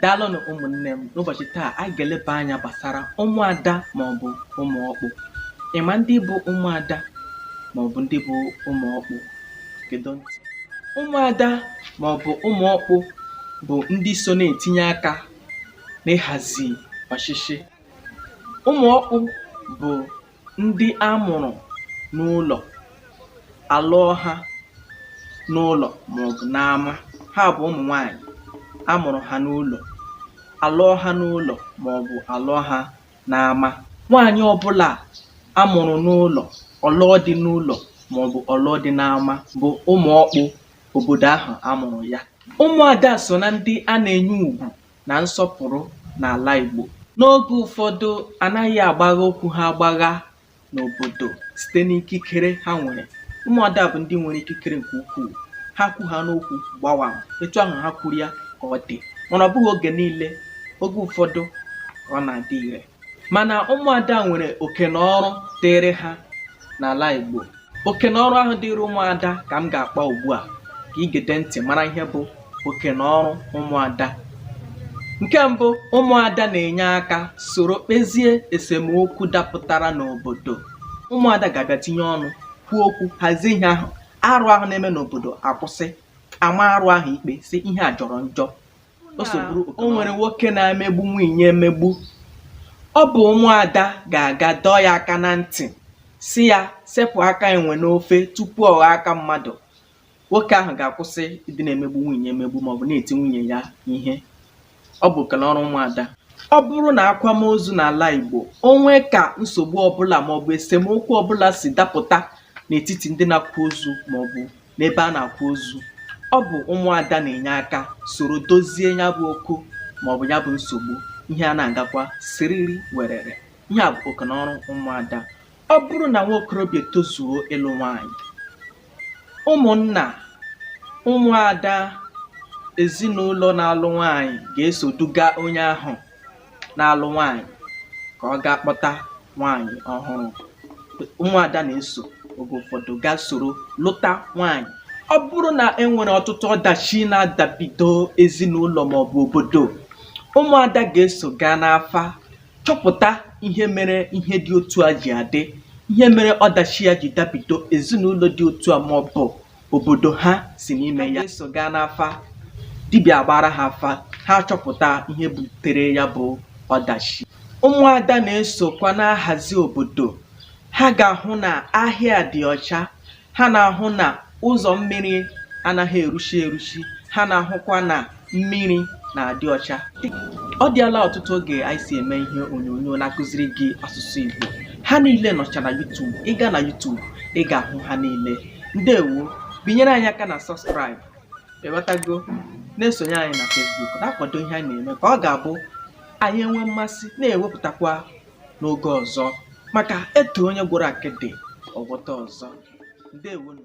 Daalụnụ ụmụnne m n'ụbọchị taa anyị ga-eleba anya gbasara ụmụada maọbụ ụmụ ọkpụ ị ma ndị bụ ụmụada maọbụ ndị bụ ụmụ ọkpụ gede ntị ụmụada maọbụ ụmụ ọkpụ bụ ndị so na-etinye aka n'ịhazi ọchịchị ụmụ ọkpụ bụ ndị a mụrụ n'ụlọ a lụọ ha n'ụlọ maọbụ n'ama ha bụ ụmụ nwaanyị a mụrụ ha n'ụlọ a lụọ ha n'ụlọ maọbụ a lụọ ha n'ama nwaanyị ọbụla a mụrụ n'ụlọ ọ lụọ di n'ụlọ maọbụ ọ lụọ di n'ama bụ ụmụ ọkpụ obodo ahụ a mụrụ ya ụmụada so na ndị a na-enye ugwu na nsọpụrụ n'ala Igbo. N'oge ụfọdụ, a naghị agbagha okwu ha agbagha n'obodo site n'ikikere ha nwere. Ụmụada bụ ndị nwere ikikere nke ukwuu. Ha kwu ha n'okwu gbawam, etu ahụ ha kwuru ya ka ọ dị. Mana ọ bụghị oge niile, oge ụfọdụ ka ọ na-adị ire. mana ụmụada nwere oke na ọrụ dịịrị ha n'ala Igbo oke na ọrụ ahụ dịịrị ụmụada ka m ga-akpa ugbu a ka ị gede ntị mara ihe bụ oke na ọrụ ụmụada nke mbụ ụmụada na-enye aka soro kpezie esemokwu dapụtara n'obodo ụmụada ga-abịa tinye ọnụ kwuo okwu hazie ihe ahụ arụ ahụ na-eme n'obodo akwụsị a maa arụ ahụ ikpe sị ihe a jọrọ njọ o so bụrụ o nwere nwoke na-emegbu nwunye emegbu ọ bụ ụmụada ga-aga dọọ ya aka na ntị sị ya sepụ aka enwe n'ofe tupu ọ ghọọ aka mmadụ nwoke ahụ ga-akwụsị ịdị na-emegbu nwunye emegbu maọbụ na-eti nwunye ya ihe ọ bụ oke na ọrụ ụmụada ọ bụrụ n'akwamozu n'ala Igbo o nwee ka nsogbu ọbụla maọbụ esemokwu ọbụla si dapụta n'etiti ndị na-akwa ozu maọbụ n'ebe a na-akwa ozu ọ bụ ụmụada na-enye aka soro dozie ya bụ okwu maọbụ ya bụ nsogbu ihe a na-agakwa siriri werere ihe a bụ oke na ọrụ ụmụada ọ bụrụ na nwa okorobịa tozuo ịlụ nwaanyị ụmụnna ụmụada ezinụlọ na-alụ nwaanyị ga-eso duga onye ahụ na-alụ nwaanyị ka ọ gaa kpọta nwaanyị ọhụrụ ụmụada na-eso oge ụfọdụ gaa soro lụta nwaanyị ọ bụrụ na e nwere ọtụtụ ọdachi na-adabido ezinụlọ maọbụ obodo ụmụada ga-eso gaa n'afa chọpụta ihe mere ihe dị otu a ji adị ihe mere ọdachi ya ji dabido ezinụlọ dị otu a maọbụ obodo ha si n'ime ya eso gaa n'afa dibịa agbaara ha afa ha achọpụta ihe butere ya bụ ọdachi ụmụada na-esokwa na-ahazi obodo ha ga-ahụ na ahịa dị ọcha ha na-ahụ na ụzọ mmiri anaghị eruchi eruchi ha na-ahụkwa na mmiri na-adị ọcha ọ dịala ọtụtụ oge anyị si eme ihe onyonyo na-akụziri gị asụsụ Igbo ha niile nọcha na YouTube ị gaa na YouTube ị ga-ahụ ha niile ndewo binyere anyị aka na subscribe ewetago na-esonye anyị na Facebook na-akwado ihe anyị na-eme ka ọ ga-abụ anyị enwe mmasị na-ewepụtakwa n'oge ọzọ maka e too onye gwọrọ akịdị ọ gwọta ọzọ ndewonụ